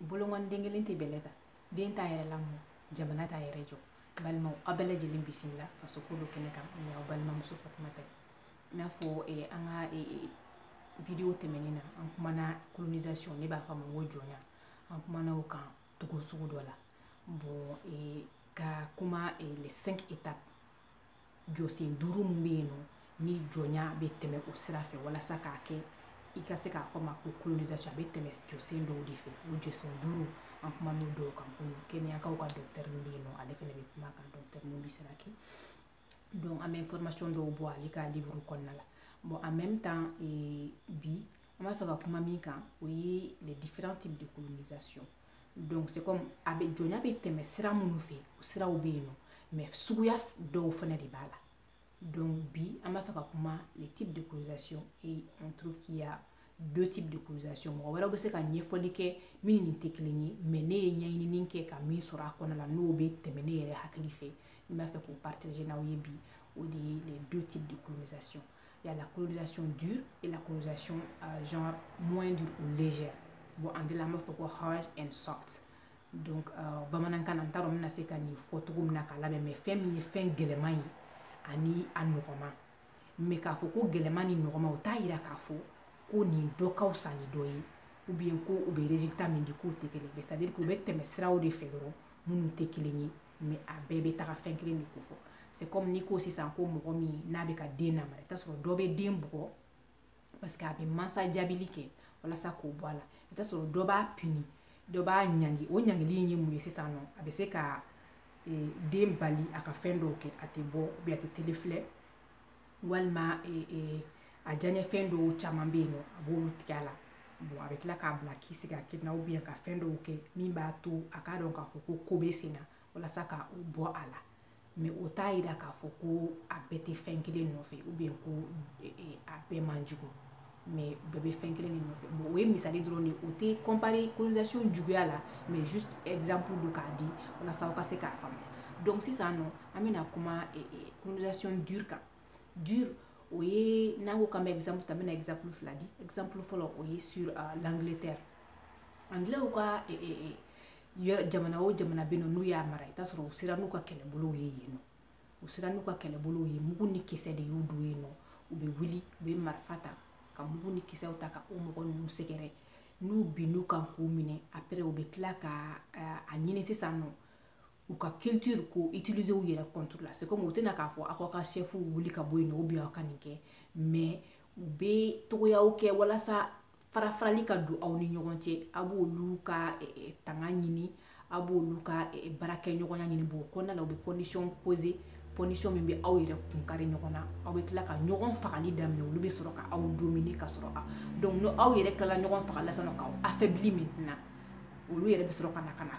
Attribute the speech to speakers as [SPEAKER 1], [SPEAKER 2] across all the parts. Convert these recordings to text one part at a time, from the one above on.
[SPEAKER 1] bolonkɔni den kelen tɛ bɛlɛ ta den t'a yɛrɛ lamɔ jamana t'a yɛrɛ jɔ balimaw aw bɛɛ lajɛlen bisimila faso ko dɔn kɛnɛ kan nin y'aw balimamuso fatumata ye i n'a fɔ eh, an ka eh, eh, video tɛmɛnen na an kumana colonisation ne b'a fɔ a ma ko jɔnya an kumana o kan cogo sugu dɔ la bon eh, ka kuma eh, les cinq étapes jɔsen duuru min bɛ yen nɔ ni jɔnya bɛ tɛmɛ o sira fɛ walasa k'a kɛ i ka se k'a fɔ a ma ko colonisation a bɛ tɛmɛ jɔsen dɔw de fɛ o jɔsen duuru an kuman'o dɔw kan ko kenyakaw ka dɔkitɛri min bɛ yen nɔ ale fana bɛ kuma kan dɔkitɛri min bɛ se ka kɛ donc an bɛ information dɔw bɔ ale ka livre kɔnɔna la bon en même temps eh, bi an b'a fɛ ka kuma min kan o ye les différents types de colonisation donc c'est comme a bɛ jɔnya bɛ tɛmɛ sira minnu fɛ o siraw bɛ yen nɔ mais suguya dɔw fana de b'a la donc bi an b'a fɛ ka kuma les types de colonisation et on trouve qu'il y a deux types de colonisation mɔgɔ wɛrɛw bɛ se ka ɲɛfɔli kɛ min ni nin tɛ kelen ye mais ne ye ɲɛɲinini kɛ ka min sɔrɔ a kɔnɔna la n'o bɛ tɛmɛ ne yɛrɛ hakili fɛ n b'a fɛ k'o partager n'aw ye bi o de ye les deux types de colonisation Il y a la colonisation dure et la colonisation euh, genre moins dure ou légère. Bon, en anglais, an b'a fɔ ko hard and soft. Donc, euh, bamanankan na n t'a dɔn n bɛna se ka nin fɔ cogo min na k'a labɛn mais fɛn min ye fɛn gɛlɛman ye ani a nɔgɔman mais k'a fɔ ko gɛlɛman ni nɔgɔman o t'a yira k'a fɔ ko nin dɔ ka fisa ni dɔ ye ou bien ko u bɛ résultat min di k'o tɛ kelen ye c'est à dire que u bɛ tɛmɛ siraw de fɛ dɔrɔn minnu tɛ kelen ye mais a bɛɛ bɛ taga fɛn kelen de kofɔ c'est comme n'i ko sisan ko mɔgɔ min n'a bɛ ka den namara i t'a sɔrɔ dɔ bɛ den bugɔ parce que a bɛ mansa jaabili kɛ walasa k'o bɔ a la i t'a sɔrɔ dɔ b'a puni dɔ b'a ɲangi o ɲangili in ye mun ye sisan nɔ a bɛ se ka den bali a ka fɛn dɔw kɛ a tɛ bɔ bi a tɛ tele filɛ walima a diyaɲɛfɛn dɔw caman bɛ yen nɔ a b'olu tigɛ a la bon a bɛ tila k'a bila k'i sigi a kelen na ou bien ka fɛn dɔw kɛ min b'a to a k'a dɔn k'a fɔ ko ko bɛ sen na walasa ka o bɔ a la mais o t'a yira k'a fɔ ko a bɛɛ tɛ fɛn kelen nɔfɛ ou bien ko a bɛɛ man jugu mais bɛɛ bɛ fɛn kelen de nɔfɛ bon o ye misali dɔrɔn de o tɛ compare colonisation juguya la mais juste exemple don k'a di walasa aw ka se k'a faamuya donc sisan nɔ an bɛna kuma eh, eh, colonisation dure kan dure o ye n'an ko k'an bɛ exemple ta n bɛna exemple fila di exemple fɔlɔ o ye sur uh, l'angleterre angilɛw ka eh, eh, eh, jamana o jamana bɛ yen nɔ n'u y'a mara i t'a sɔrɔ u sera n'u ka kɛlɛbolow ye yen nɔ u sera n'u ka kɛlɛbolow ye mugu ni kisɛ de y'u don yen nɔ u bɛ wuli u bɛ marifa ta ka mugu ni kisɛw ta ka o mɔgɔ ninnu sɛgɛrɛ n'u binn'u kan k'u minɛ après u bɛ tila ka a ɲini sisan nɔ u ka culture k'o utiliser u yɛrɛ contre la c'est comme u tɛ na k'a fɔ aw ka chef wuli ka bɔ yen nɔ ou bien aw ka nin kɛ mais u bɛ cogoyaw kɛ walasa farafarali ka don aw ni ɲɔgɔn cɛ a b'olu ka tanga ɲini a b'olu ka baarakɛɲɔgɔnya ɲini b'o kɔnɔna na u bɛ condition poser condition min bɛ aw yɛrɛ kun kari ɲɔgɔn na aw bɛ tila ka ɲɔgɔn fagali daminɛ olu bɛ sɔrɔ ka aw dominer ka sɔrɔ a donc n'aw yɛrɛ tilala ɲɔgɔn fagali la sisan nɔ k'aw affaiblir min na olu yɛrɛ bɛ sɔrɔ ka na ka na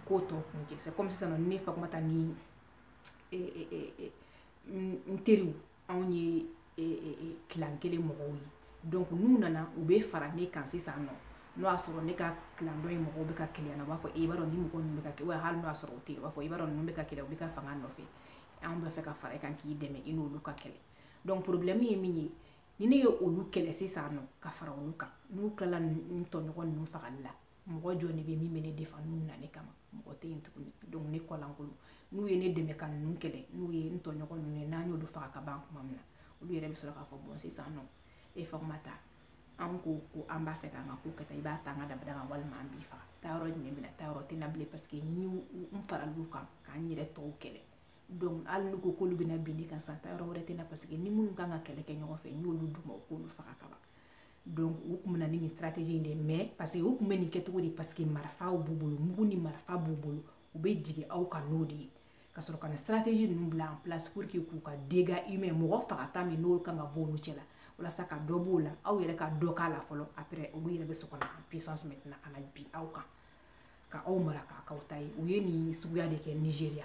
[SPEAKER 1] ko tɔ kuncɛ c'est comme sisan ne fatumata ni n teriw anw ye clan kelen mɔgɔw ye donc n'u nana u bɛ fara ne kan sisan nɔ n'o y'a sɔrɔ ne ka clan dɔ in mɔgɔw bɛ ka kɛlɛ na u b'a fɔ e b'a dɔn ni mɔgɔ ninnu bɛ ka kɛ wa hali n'o y'a sɔrɔ o tɛ u b'a fɔ i b'a dɔn ninnu bɛ k'i kɛlɛ u b'i ka fanga nɔfɛ anw b'a fɛ ka fara i kan k'i dɛmɛ i n'olu ka kɛlɛ donc problème ye min ye ni ne ye olu kɛlɛ sisan nɔ ka fara olu kan n'u tilala n tɔɲɔgɔn ninnu fagali la mɔgɔ jɔn de bɛ min bɛ ne défendre n'u na ne kama mɔgɔ tɛ yen tuguni donc ne kɔlankolon n'u ye ne dɛmɛ ka ninnu kɛlɛ n'u ye n tɔɲɔgɔn ninnu ye n'an y'olu faga ka ban kuma min na olu yɛrɛ bɛ sɔrɔ k'a fɔ bɔn sisan nɔ e fatumata an ko ko an b'a fɛ k'an ka ko kɛta i b'a ta an ka dabada kan walima an b'i faga taayɔrɔ jumɛn bɛ n na taayɔrɔ tɛ n na bilen paseke n n faral'u kan k'an yɛrɛ tɔw kɛlɛ donc hali n'u ko k'olu bɛna bin ne kan sisan taayɔrɔ wɛrɛ tɛ n na paseke n ni minnu kan ka kɛlɛ kɛ ɲɔgɔn fɛ n y'olu d'u ma u k'olu faga ka ban donc u tun bɛ na ni nin stratégie in de mais parce que u tun bɛ nin kɛcogo de parce que marifaw b'u bolo mugu ni marifa b'u bolo u bɛ jigin aw kan n'o de ye ka sɔrɔ ka na stratégie ninnu bila en place pour que k'u ka dégâts humains mɔgɔ fagata min n'olu kan ka bɔ olu cɛla walasa ka dɔ b'o la aw yɛrɛ ka dɔ k'a la fɔlɔ après olu yɛrɛ bɛ sɔrɔ ka na en puissance maintenant ka na bin aw kan ka aw mara k'aw k'u ta ye u ye nin suguya de kɛ Nigéria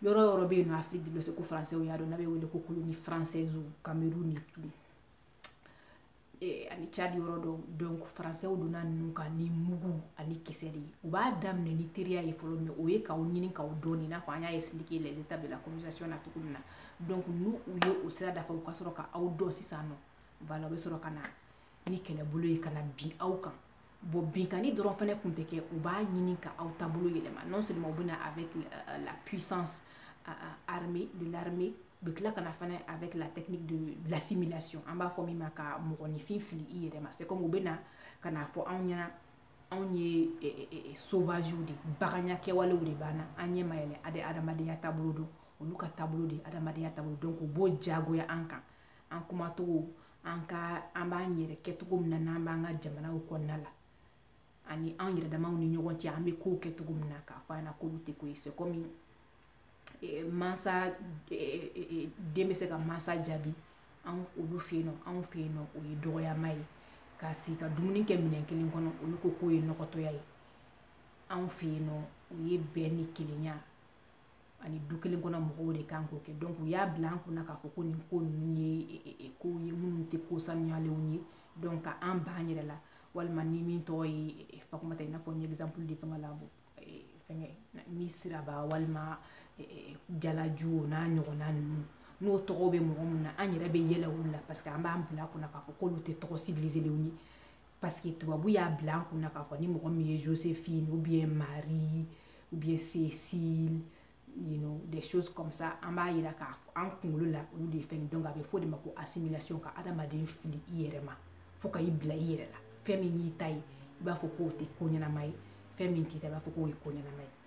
[SPEAKER 1] yɔrɔ yɔrɔ bɛ yen nɔ afiriki de ko faransɛw y'a dɔn n'a bɛ wele ko colonies françaisesw kamerun ni togo ani cadi yɔrɔ dɔw donc faransɛw donna ninnu kan ni mugu ani kisɛ de ye u b'a daminɛ ni teriya ye fɔlɔ mais o ye k'aw ɲini k'aw dɔn nin i n'a fɔ an y'a expliquer les étapes de la colonisation na cogo min na donc n'u u ye o sira dafa u ka sɔrɔ ka aw dɔn sisan nɔ voilà u bɛ sɔrɔ ka na ni kɛlɛbolo ye ka na bin aw kan bon binkanni dɔrɔn fana kun tɛ kɛ u b'a ɲini ka aw taabolo yɛlɛma non seulement u bɛ na avec euh, la puissance euh, euh, armée de l'armée u bɛ tila ka na fana avec la technique de l'assimilation an b'a fɔ min ma ka mɔgɔninfin fili i yɛrɛ ma c'est comme u bɛ na ka n'a fɔ anw ɲɛna anw ye e, e, e, sauvagew de baganya kɛwalew de b'an na an ɲɛ ma yɛlɛ an tɛ adamadenya taabolo dɔn olu ka taabolo de adamadenya taabolo donc u b'o jagoya an kan an kumacogo an ka an b'an yɛrɛ kɛ cogo min na n'an b'an ka jamanaw kɔnɔna la ani an yɛrɛ damaw ni ɲɔgɔn cɛ an bɛ kow kɛ cogo min na k'a fɔ an ɲɛna k'olu tɛ ko ye c'est comme eh, mansa eh, eh, den bɛ se ka mansa jaabi an olu fɛ yen nɔ anw fɛ yen nɔ o ye dɔgɔyama ye ka sigi ka dumuni kɛ minɛn kelen kɔnɔ olu ko k'o ye nɔgɔtɔya ye anw fɛ yen nɔ o ye bɛn ni kelenya ani du kelen kɔnɔ mɔgɔw de kan k'o kɛ donc u y'a bila an kunna k'a fɔ ko nin ko ninnu ye e, e, e, kow ye minnu tɛ ko sanuyalenw ye donc ka an ban yɛrɛ la walima ni min tɔgɔ ye fatumata i n'a fɔ n ye exemple di fɛngɛ la fɛngɛ ni siraba walima jalaju o n'a ɲɔgɔnna ninnu n'o tɔgɔ bɛ mɔgɔ min na an yɛrɛ bɛ yɛlɛ olu la parce que an b'a bila an kunna k'a fɔ k'olu tɛ tɔgɔ civiliselenw ye paske tubabu y'a bila an kunna k'a fɔ ni mɔgɔ min ye josephine ou bien marie ou bien cécile you know des choses comme ça an b'a yira k'a fɔ an kunkolo la olu de ye fɛn donc a bɛ fɔ o de ma ko assimilation ka adamaden fili i yɛrɛ ma fo ka i bila i yɛrɛ la fɛn min y'i ta ye i b'a fɔ k'o tɛ ko ɲɛnama ye fɛn min t'i ta i b'a fɔ k'o ye ko ɲɛnama ye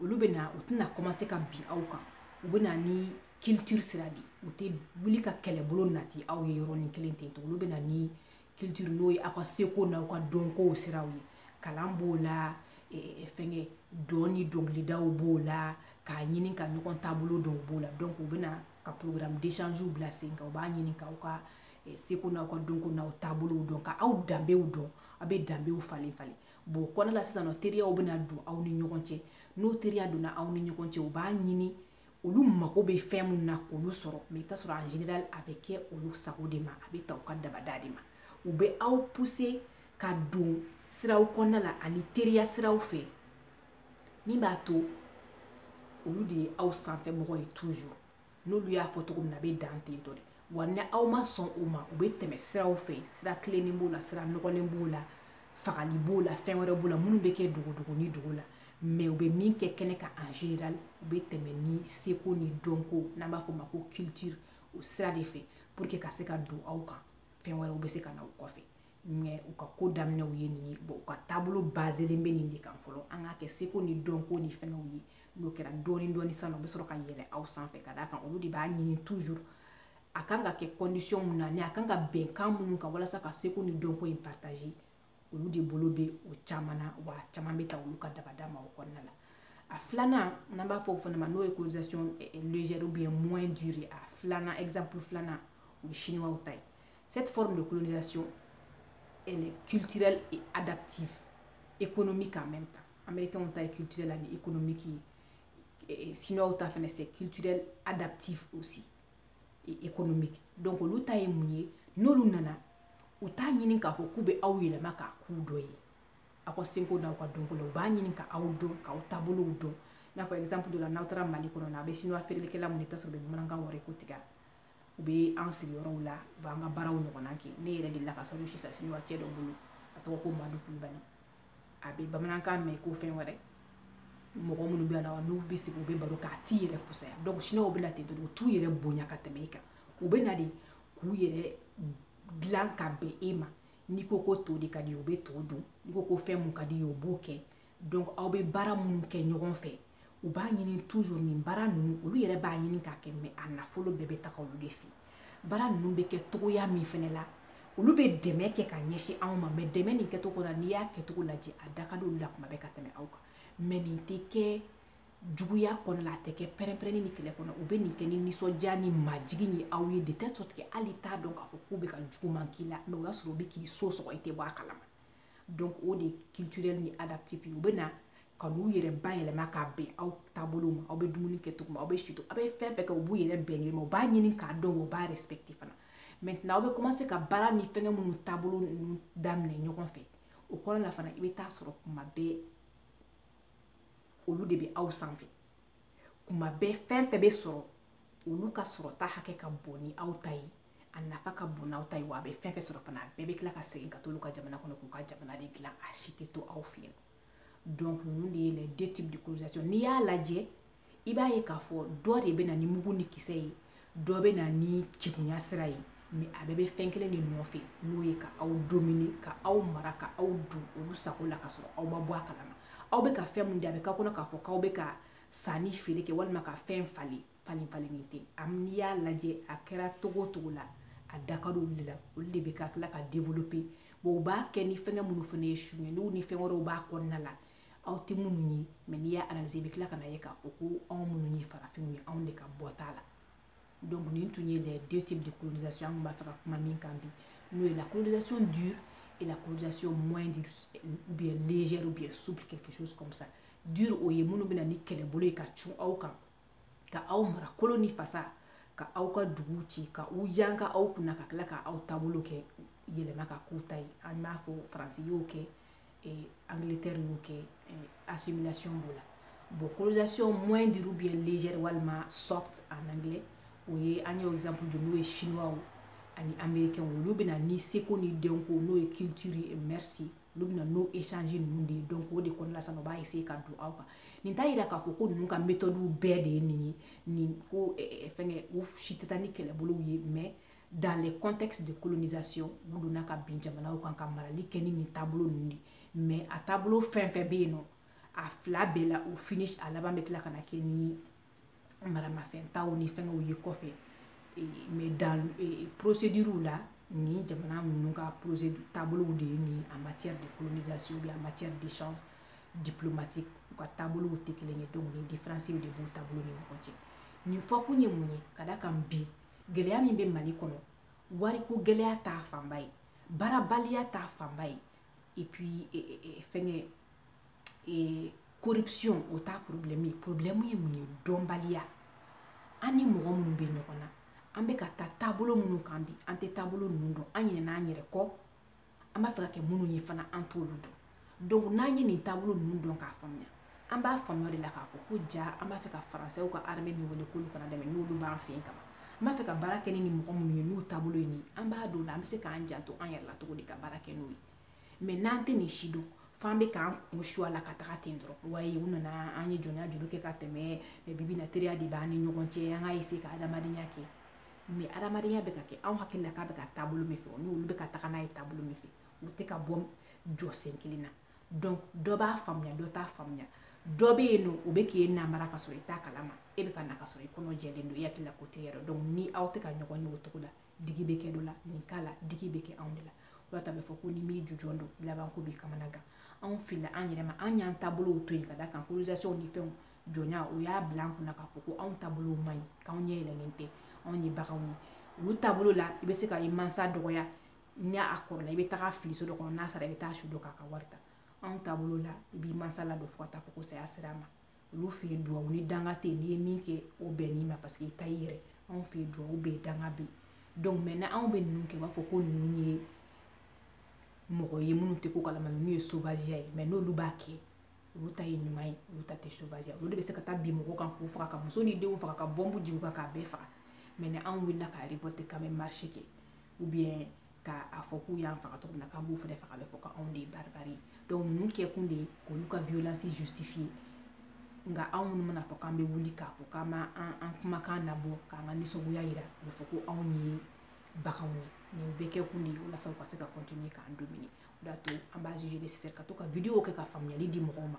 [SPEAKER 1] olu bɛ na u tɛna kɔmanse ka bin aw kan u bɛ na ni culture sira de u tɛ wuli ka kɛlɛbolo nati aw ye yɔrɔnin kelen ten to olu bɛ na ni culture n'o ye aw ka seko n'aw ka dɔnkow siraw ye kalan b'o la fɛnkɛ dɔn ni dɔnkilidaw b'o la k'a ɲini ka ɲɔgɔn taabolo dɔn b'o la donc u bɛ na ka programme d'échange bila sen kan u b'a ɲini k'aw ka seko n'aw ka dɔnko n'aw taabolow dɔn ka aw danbew dɔn aw bɛ danbew falen falen bon o kɔnɔna la sisan nɔ teriyaw bɛna don aw ni ɲɔgɔn cɛ n'o teriya donna aw ni ɲɔgɔn cɛ u b'a ɲini olu mago bɛ fɛn minnu na k'olu sɔrɔ mais i bɛ t'a sɔrɔ en général a bɛ kɛ olu sago de ma a bɛ taa u ka dabada de ma u bɛ aw pousser ka don siraw kɔnɔna la ani teriya siraw fɛ min b'a to olu de ye aw sanfɛ mɔgɔ ye toujours n'olu y'a fɔ cogo min na a bɛ dan ten tɔ de wa ni aw ma sɔn o ma u bɛ tɛmɛ siraw fɛ sira tilennen b'o la sira nɔgɔlen b'o la fagali b'o la fɛn wɛrɛ b'o la minnu bɛ kɛ dogodogo ni dogo la mais u bɛ min kɛ kɛnɛ kan en général u bɛ tɛmɛ ni seko ni dɔnko n'an b'a fɔ o ma ko culture o sira de fɛ pour que ka se ka don aw kan fɛn wɛrɛw bɛ se ka na o kɔfɛ mais u ka ko daminɛw ye nin ye bon u ka taabolo bazelen bɛ nin de kan fɔlɔ an k'a kɛ seko ni dɔnko ni fɛngɛw ye n'o kɛra dɔɔni dɔɔni sisan u bɛ sɔrɔ ka yɛlɛ aw sanfɛ ka d'a kan olu de b'a ɲini toujours a kan ka kɛ condition min na ni a kan ka bɛn kan minnu kan walasa ka seko ni dɔnko in partager olu de bolo bɛ o caman na wa caman bɛ taa olu ka dabada ma o kɔnɔna la a filanan n'an b'a fɔ o fana ma n'o ye colonisation eh, eh, légère ou bien moins dure a filanan exemple filanan o ye chinois ta ye cette forme de colonisation elle est culturelle et adaptive économique en même temps américains ta ye culturel ani économique ye eh, eh, sinoaw ta fana c'est culturel adaptif aussi et économique donc olu ta ye mun ye n'olu nana u t'a ɲini k'a fɔ k'u bɛ aw yɛlɛma k'aw k'u dɔ ye aw ka seko n'aw ka dɔnko la u b'a ɲini ka aw dɔn k'aw taabolow dɔn i n'a fɔ exemple dɔ la n'aw taara mali kɔnɔna aw bɛ sinoa feerelikɛla minnu i bɛ t'a sɔrɔ u bɛ bamanankan wari ko tigɛ u bɛ an sigiyɔrɔw la u b'an ka baaraw ɲɔgɔnna kɛ ne yɛrɛ delila ka sogo san sinoa cɛ dɔ bolo a tɔgɔ ko madu kulubali a bɛ bamanankan mɛn ko fɛn wɛrɛ mɔgɔ minnu bɛ na n'u bɛ sigi u bɛ baro k'a t'i yɛrɛ fusaya donc siniwaw bɛ na ten dɔrɔn u t'u yɛrɛ bonya ka tɛmɛ i kan u bɛ na de k'u yɛrɛ dilan ka bɛn e ma n'i ko ko to de ka d'i ye u bɛ to dun n'i ko ko fɛn mun ka d'i ye u b'o kɛ donc aw bɛ baara minnu kɛ ɲɔgɔn fɛ u b'a ɲini toujours nin baara ninnu olu yɛrɛ b'a ɲini k'a kɛ mais a nafolo bɛɛ bɛ taga olu de fɛ baara ninnu bɛ kɛ cogoya min fɛnɛ la olu bɛ dɛmɛ kɛ ka ɲɛsin anw ma mais dɛmɛ nin kɛcogo la n'i y'a kɛcogo lajɛ a da ka di olu la kuma bɛɛ ka tɛmɛ aw kan mais nin tɛ kɛ juguya kɔnɔ la a tɛ kɛ pɛrɛnpɛrɛnni ni kɛlɛ kɔnɔ u bɛ nin kɛ ni nisɔndiya ni majigin ye aw yɛrɛ tɛ sɔrɔ tigɛ hali t'a dɔn k'a fɔ k'u bɛ ka juguman k'i la mais o y'a sɔrɔ u bɛ k'i so sɔgɔ i tɛ bɔ a kalama donc o de culturel ni adaptif u bɛ na ka n'u yɛrɛ bayɛlɛma k'a bɛn aw taabolo ma aw bɛ dumuni kɛ cogo min aw bɛ si to aw bɛ fɛn fɛn kɛ u b'u yɛrɛ bɛn a ma u b'a ɲini k'a dɔn u b'a respecte fana maintenant aw bɛ commencer ka baara ni fɛngɛ minnu taabolo ninnu daminɛ ɲɔgɔn fɛ o kɔrɔ la fana i bɛ taa sɔrɔ kuma bɛɛ olu de bɛ aw sanfɛ kuma bɛɛ fɛn fɛn bɛ sɔrɔ olu ka sɔrɔta hakɛ ka bon ni aw ta ye a nafa ka bon n'aw ta ye wa a bɛ fɛn fɛn sɔrɔ fana a bɛɛ bɛ tila ka segin ka t'olu ka jamana kɔnɔ k'u ka jamana de dilan a si tɛ to aw fɛ yen donc ninnu de ye les deux types de colonisation n'i y'a lajɛ i b'a ye k'a fɔ dɔ de bɛ na ni mugu ni kisɛ ye dɔ bɛ na ni kegunya sira ye mais a bɛɛ bɛ fɛn kelen de nɔfɛ n'o ye ka aw domine ka aw mara ka aw don olu sago la ka sɔrɔ aw ma bɔ a kalama aw bɛ ka fɛn min di a bɛ k'aw kɔnɔ k'a fɔ k'aw bɛ ka sanni feere kɛ walima ka fɛn falen falen falenni tɛ n'i y'a lajɛ a kɛra cogo o cogo la a da ka di olu de la olu de bɛ ka tila ka développer bon u b'a kɛ ni fɛngɛ minnu fana ye su ye n'u ni fɛn wɛrɛw b'a kɔnɔna la aw tɛ minnu ye mais n'i y'a analyser i bɛ tila ka n'a ye k'a fɔ ko anw minnu ye farafinw ye anw de ka bɔ t'a la donc nin tun ye les deux types de colonisation an tun b'a fɛ ka kuma min kan bi n'o ye la colonisation dure et la colonisation moins dure ou bien légère ou bien souple quelque chose comme ça dure o ye minnu bɛ na ni kɛlɛbolo ye ka cun aw kan ka aw mara kolo ni fasa ka aw ka dugu ci ka u yanka aw kunna ka tila ka aw taabolo kɛ yɛlɛma k'a k'u ta ye an b'a fɔ faransi y'o kɛ eh, angleterre y'o kɛ eh, assimilation b'o la bon colonisation moins dure ou bien légère walima soft en anglais o ye an y'o exemple di n'o ye chinois ani américain olu bɛ na ni seko ni dɔnko n'o ye culture ye olu bɛ na n'o échange ninnu de ye donc o de kɔnɔna sisan u b'a essayer ka don aw kan nin t'a yira k'a fɔ ko ninnu ka méthode bɛɛ de ye nin ye nin ko fɛngɛ u si tɛ taa ni kɛlɛbolow ye mais dans le contexte de colonisation u donna ka bin jamanaw kan ka marali kɛ ni nin taabolo ninnu de mais a taabolo fɛn fɛn bɛ yen nɔ a fila bɛɛ la au finish a laban bɛ tila ka na kɛ ni maramafɛn taw ni fɛngɛw ye kɔfɛ mɛ dan porosediriw la nin jamana ninnu ka porosediri taabolow de ye nin en matière de colonisation bi en matière d'échange diplomatique u ka taabolow tɛ kelen ye donc ni différence de b'u taabolo ni ɲɔgɔn cɛ nin fɔkun ye mun ye ka da kan bi gɛlɛya min bɛ mali kɔnɔ wariko gɛlɛya t'a fanba ye baarabaliya t'a fanba ye et puis fɛngɛ corruption o t'a problème ye problème ye mun ye dɔnbaliya an ni mɔgɔ minnu bɛ ɲɔgɔn na an bɛ ka taa taabolo minnu kan bi an tɛ taabolo ninnu dɔn an ɲinɛna an yɛrɛ kɔ an b'a fɛ ka kɛ minnu ye fana an t'olu dɔn donc n'an ye nin taabolo ninnu dɔn k'a faamuya an b'a faamuya de la k'a fɔ ko jaa an b'a fɛ ka faransɛw ka armée min wele k'olu ka n'an dɛmɛ n'olu b'an fɛ yen kama an b'a fɛ ka baara kɛ ni nin mɔgɔ minnu ye n'u taabolo ye nin ye an b'a dɔn o la an bɛ se k'an janto an yɛrɛ la cogo di ka baara kɛ n'u ye mɛ n'an tɛ nin si dɔn f'an bɛ k'an kun su a la ka taga ten dɔrɔn wayi u nana an ye jɔnya juru kɛ ka tɛmɛ mɛ bi bi in na teriya de b'an ni ɲɔgɔn cɛ an ka ese ka adamadenya kɛ mɛ adamadenya bɛ ka kɛ anw hakili la k'a bɛ ka taabolo min fɛ o n'olu bɛ ka taga n'a ye taabolo min fɛ u tɛ ka bɔ jɔsen kelen na donc dɔ b'a faamuya dɔ t'a faamuya dɔ bɛ yen nɔ o bɛ k'e namara ka sɔrɔ i t'a kalama e bɛ ka na ka sɔrɔ i kɔnɔ jɛlen don i hakili la ko tɛ yɛrɛ donc ni aw tɛ ka ɲɔgɔn ye o cogo la digi bɛ kɛ dɔ la nin cas la digi bɛ kɛ anw de la o la ta bɛ fɔ ko n'i m'i jujɔn dɔn laban ko b'i kamana gan anw filila an yɛrɛ ma an y'an taabolow to yen ka da kan colonisation ni fɛnw jɔnya o y'a bila an kunna k'a fɔ ko anw taabolow man ɲi k'anw ɲɛ yɛlɛlen tɛ anw ye baganw ye olu taabolo la i bɛ se ka i mansa dɔgɔya ni a kɔrɔla i bɛ taga a fili so dɔ kɔnɔ n'a sara i bɛ taa su don k'a ka wari ta anw taabolo la i b'i mansa ladon fo ka taa fɔ ko saya sera a ma olu fɛ yen duwawu ni danga tɛ yen n'i ye min kɛ o bɛnn'i ma paseke i ta y'i yɛrɛ anw fɛ yen duwawu bɛ yen danga bɛ yen donc mɛ n'anw bɛ ninnu kɛ u b'a fɔ ko ninnu ye mɔgɔ ye minnu tɛ ko kalama ninnu ye sovageya ye mɛ n'olu b'a kɛ olu ta ye ɲuman ye olu ta tɛ sovageya olu de bɛ se ka taa bin mɔgɔ kan k'u faga ka muso ni denw faga ka bɔnbu jigin u kan k'a bɛɛ faga mɛ n'anw wulila ka revolte k'an bɛ marche kɛ ou bien k'a fɔ k'u y'an faga cogo min na k'an b'u fɛnɛ faga a bɛ fɔ ko anw de ye baribari ye donc ninnu kɛkun de ye k'olu ka violence justifier nka anw minnu mana fɔ k'an bɛ wuli k'a fɔ k'an b'a an an kumakan nabɔ k'an ka nisɔngoya yira a bɛ fɔ ko anw ye baganw ye nin bɛɛ kɛkun de ye walasa u ka se ka continuer k'an dominer o de y'a to an b'a juger nécessaire ka to ka video kɛ ka faamuyali di mɔgɔw ma